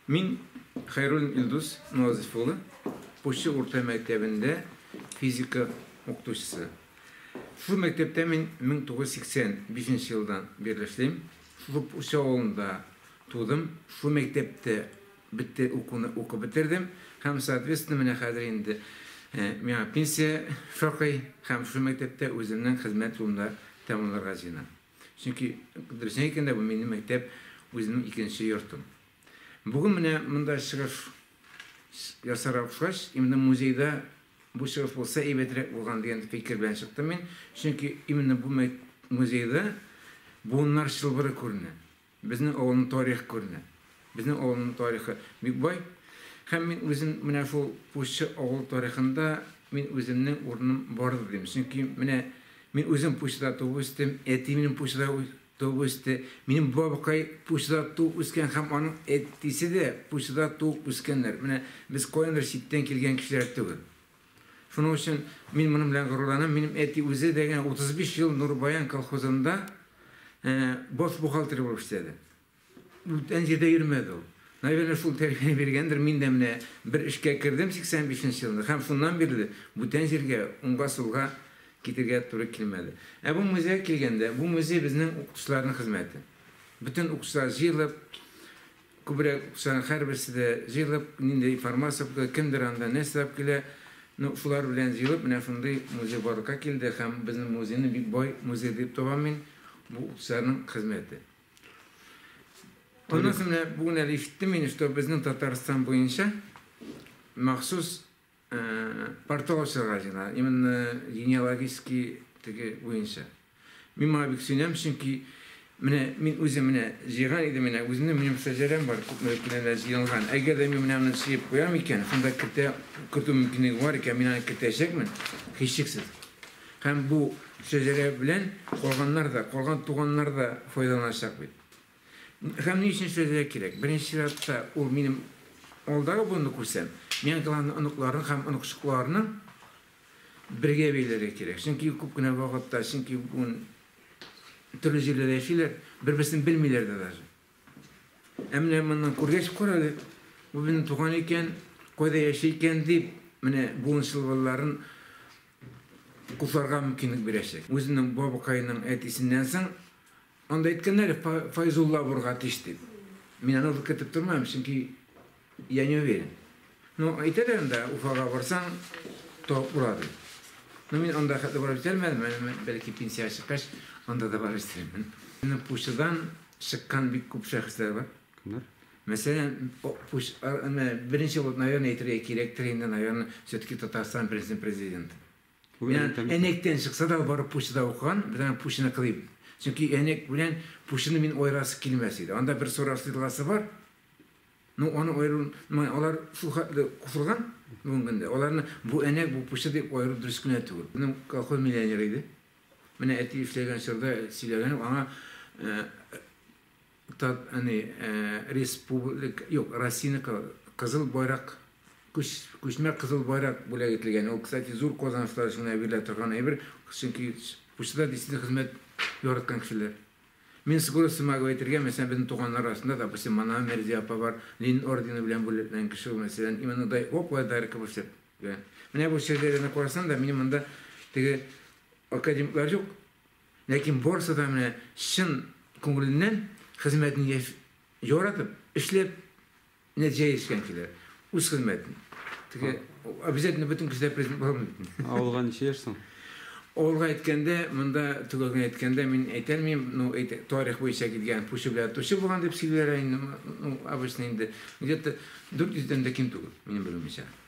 Мин Хәйруллин Илдус Назыйф улы, Пучы урта мәктәбендә физика укытучысы. Шушы мәктәптә мин 1985 нче елдан бирле эшлим. Шушы Пучы авылында тудым, шушы мәктәптә бетте укуны укып бетердем һәм соответственно менә хәзер инде миңа пенсия шакый һәм шушы мәктәптә үземнең хезмәт юлымда тәмамларга җыенам. Чөнки, дөресен әйткәндә, бу минем мәктәп, үземнең икенче йортым. Бүген менә монда чыгыш ясарга кушкач, именно музейда бу чыгыш булса әйбәтрәк булган дигән фикер белән чыктым мин. Чөнки именно бу музейда буыннар чылбыры күренә. Безнең авылның тарихы күренә. Безнең авылның тарихы бик бай. Һәм мин үзем менә шул Пуччы авыл тарихында мин үземнең урыным бардыр дим. Чөнки менә мин үзем Пуччыда туып үстем, әти минем Пуччыда туып үсте, минем бабкай Пуччыда туып үскән һәм аның әтисе дә Пуччыда туып үскәннәр. Менә без каяндыр читтән килгән кешеләр түгел. Шуның өчен мин моның белән горурланам. Минем әти үзе дә генә 35 ел Нурбаян колхозында баш бухгалтер булып эшләде. Бүтән җирдә йөрмәде ул. Наверное, шул тәрбия биргәндер. Мин дә менә бер эшкә кердем 85 нче елда һәм шуннан бирле бүтән җиргә уңга-сулга китергә туры килмәде. Ә бу музейга килгәндә, бу музей безнең укытучыларның хезмәте. Бөтен укытучылар җыелып, Күбрәк саны һәрберсе дә җыелып, нинди информация укыды, кемдер анда нәрсә алып килә, ну, шулар белән җыелып, менә шундый музей барлыкка килде һәм безнең музейны бик бай музей дип табам мин, бу укытучыларның хезмәте. Аннан соң менә бүген әле ишеттем мин, что безнең Татарстан буенча махсус Портал ачарга җыена, именно генеалогический теге буенча. Мин моңа бик сөенәм, чөнки менә мин үзем менә җыйган идем, менә үземнең минем шәҗәрәм бар, күпмедер кенәләр җыелган. Әгәр дә мин менә аны җыеп куям икән, шунда кертә, кертү мөмкинлеге бар икән, мин аны кертәчәкмен, һичшиксез. Һәм бу шәҗәрә белән калганнар да, калган туганнар да файдаланачак бит. Һәм ни өчен эшләргә кирәк? Беренче чиратта, ул минем алдагы буынны күрсәм, миңа главное оныкларны һәм оныкчыкларны бергә бәйләргә кирәк. Чөнки күп кенә вакытта, чөнки бүген төрле җирләрдә яшиләр, бер-берсен белмиләр дә даже. Ә менә моннан күргәч карале, бу безнең туган икән, кайда яши икән дип, менә буын чылбырларын кутларга мөмкинлек бирәчәк. Үзенең бабакаеның әтисеннән соң Анда әйткәннәр, Файзулла авырга тиеш дип. Мин аны ул көтеп тормам, чөнки я не уверен. Ну, әйтәләр анда, Уфага барсаң, табып була дип. Ну, мин анда хәтле барып җитәлмәдем, бәлки пенсия чыккач, анда да барып җитәрмен. Минем пучыдан чыккан бик күп шәхесләр бар. Кемнәр? Мәсәлән, пуч, беренче булып, наверное, әйтергә кирәктер инде, наверное, все-таки Татарстан беренче президенты. Әнәктән чыкса да, ул барып Пущада укыган, без аны Пущаны кылыйм. Чөнки Әнәк белән Пущаны мин аерасы килмәс иде. Анда бер Сораш елгасы бар. Ну, аны аеру, алар шул хәтле кушылган бүгенге көндә. Аларны бу Әнәк, бу Пуща дип аеру дөрес кенә түгел. Безнең колхоз миллионеры иде. Менә әти эшләгән чорда сөйләгәнем, аңа Тат, әни, ә, республик, юк, Россиянең кы, кызыл байрак, күч, күчмә кызыл байрак бүләк ителгән. Ул, кстати, зур казанышлар өчен әверелә торган әйбер, чөнки почтада действительно хезмәт яраткан кешеләр. Мин скорости могу әйтергә, мәсәлән, безнең туганнар арасында, допустим, Манава Мәрзия апа бар, Ленин ордены белән бүләкләнгән кеше ул, мәсәлән, именно дай, о, кулай дайрыкка күрсәт. Менә бу шигырьләрне карасаң да, минем монда теге академиклар юк, Ләкин барысы да менә чын күңеленнән хезмәтен яшь яратып, эшләп нәтиҗәгә ирешкән кешеләр. Үз хезмәтен. Теге обязательно бөтен кешеләр президент була алмый бит инде. Авылга ничә яшь соң? Авылга әйткәндә, монда төгәл генә әйткәндә мин әйтә алмыйм, ну, тарих буенча килгән, пучы белән тучы булган дип сөйлиләр инде, ну, обычно инде, где-то 400 дән дә ким түгел, минем белүемчә.